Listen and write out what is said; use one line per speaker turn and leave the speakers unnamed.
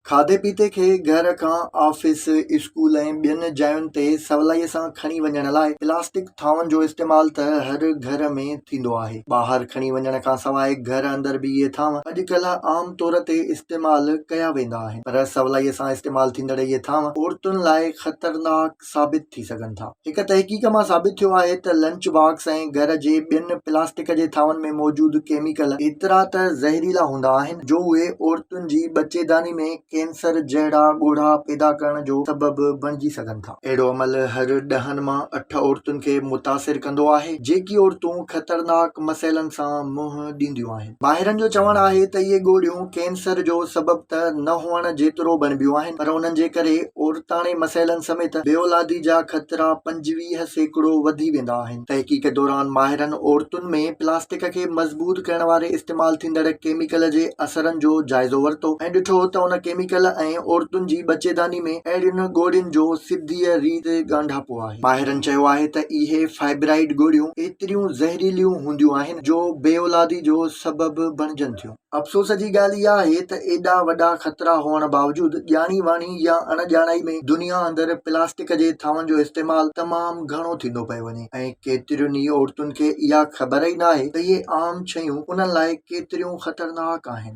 کاڌي پيتي کي گهر کان آفيس، اسڪول ۽ ٻين جاين تي سولائيء سان کڻي وڃڻ لاء پلاسٽڪ ٿانون جو استعمال ته هر گهر ۾ ٿيندو آهي. ٻاهر کڻي وڃڻ کان سواء گهر اندر به اهي ٿانو اڄ ڪلهه عام طور تي استعمال ڪيا ويندا آهن پر سولائيء سان استعمال ٿيندڙ اهي ٿانو عورتن لاء خطرناڪ، ثابت ٿي سگهن ٿا. هڪ تحقيق مان ثابت ٿيو آهي ته لنچ باڪس ۽ گهر جي ٻين پلاسٽڪ جي ٿانون ۾ موجود ڪيميڪل ايترا ته زهريلا هوندا آهن جو اهي عورتن جي ٻچيداني ۾ ڪينسر جهڙا ڳوڙها پيدا ڪرڻ جو سبب بڻجي سگهن ٿا. اهڙو عمل هر ڏهن مان اٺ عورتن کي متاثر ڪندو آهي، جيڪي عورتون خطرناڪ مسئلن سان منهن ڏينديون آهن. ماهرن جو چوڻ آهي ته اهي ڳوڙهيون ڪينسر جو سبب ته نه هئڻ جيترو بڻبيون آهن پر انهن جي ڪري عورتاڻي مسئلن سميت بي اولادي جا خطرا پنجويهه سيڪڙو وڌي ويندا آهن. تحقيق دوران ماهرن عورتن ۾ پلاسٽڪ کي مضبوط ڪرڻ واري استعمال ٿيندڙ ڪيميڪل جي اثرن جو جائزو ورتو ۽ ڏٺو ته ان ڪيميڪل ۽ عورتن جي ٻچيداني ۾ اهڙين ڳوڙهين جو سڌيء ريت ڳانڍاپو آهي. ماهرن چيو آهي ته اهي فائبرائيڊ ڳوڙهيون ايتريون زهريليون هونديون آهن، جو بي اولادي جو سبب بڻجن ٿيون. افسوس جي ڳالهه اها آهي ته ايڏا وڏا خطرا هئڻ باوجود ڄاڻي واڻي يا اڻ ڄاڻائي ۾ دنيا اندر پلاسٽڪ جي ٿانون جو استعمال تمام گهڻو ٿيندو پيو وڃي ۽ ڪيترين ئي عورتن کي اها خبر ئي ناهي ته اهي عام شيون انهن لاء ڪيتريون خطرناڪ آهن.